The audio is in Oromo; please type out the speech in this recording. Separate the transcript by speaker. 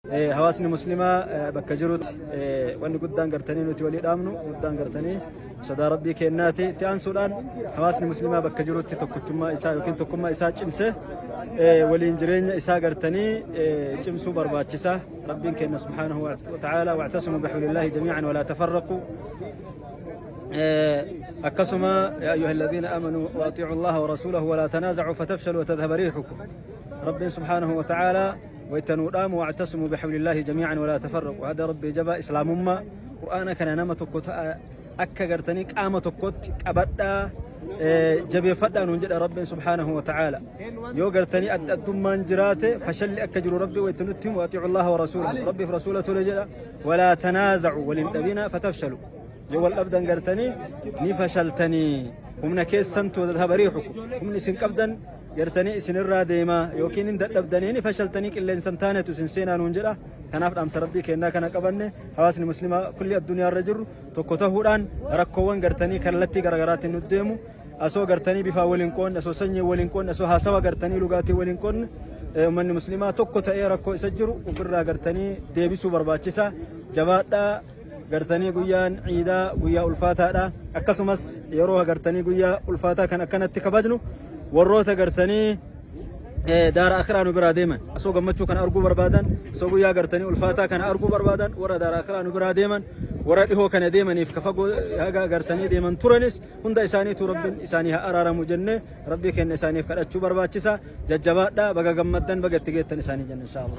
Speaker 1: Hawaasni muslimaa bakka jirutti wanni guddaan gartanii nuti walii dhaamnu guddaan gartanii sodaa rabbii kennaati itti aansuudhaan hawaasni muslimaa bakka jirutti tokkichummaa isaa yookiin tokkummaa isaa cimse waliin jireenya isaa gartanii cimsuu barbaachisa rabbiin kenna subhaanahu wa ta'aala wa'tasimu bihablillahi jamii'an walaa tafarraqu akkasuma yaa ayyuha alladhiina aamanuu waaxiicu allaha warasuulahu walaa tanaaza'uu fatafshalu watadhaba riixukum rabbiin subhaanahu wa ta'aala wayta nuu dhaamu wa'tasimu bihablillahi jamii'an walaa tafarraqu hada rabbii jabaa islaamummaa qur'aana kana nama tokko ta'a akka gartanii qaama tokkotti qabadhaa jabeeffadhaa nuun jedha rabbiin subhaanahu wa ta'aala yoo gartanii adda addummaan jiraate fashalli akka jiru rabbi wayta nutti himu atiicu allaha wa rasuulahu rabbiif rasuula tole jedha walaa tanaazacu waliin dhabina fatafshalu yoo wal dhabdan gartanii ni fashaltanii humna keessan tuudat habarii hukum humni isin qabdan Jartanii isin irraa deemaa yookiin hin dadhabdanii ni fashaltanii qilleensa hin taanetu isin seenaa nuun jedha. Kanaaf dhaamsa rabbii keennaa kana qabanne hawaasni muslimaa kulli addunyaa irra jirru tokko tahuudhaan rakkoowwan gartanii kallattii garaagaraatiin nu deemu asoo gartanii bifaa waliin qoonne asoo sanyii waliin qoonne asoo haasawa gartanii lugaatii waliin qoonne ummanni muslimaa tokko ta'ee rakkoo isa jiru ofirraa gartanii deebisuu barbaachisa jabaadhaa gartanii guyyaan ciidaa guyyaa ulfaataadha akkasumas yeroo agartanii guyyaa ulfaataa kan akkanatti kabajnu warroota gartanii daara akiraa nu biraa deeman osoo gammachuu kana arguu barbaadan osoo guyyaa gartanii ulfaataa kana arguu barbaadan warra daara akiraa nu biraa deeman warra dhihoo kana deemaniif ka fagoo haga gartanii deeman turanis hunda isaaniitu rabbiin isaanii haa araaramu jennee rabbii kenna isaaniif kadhachuu barbaachisa jajjabaadha baga gammaddan baga itti geettan isaanii jenna inshaallah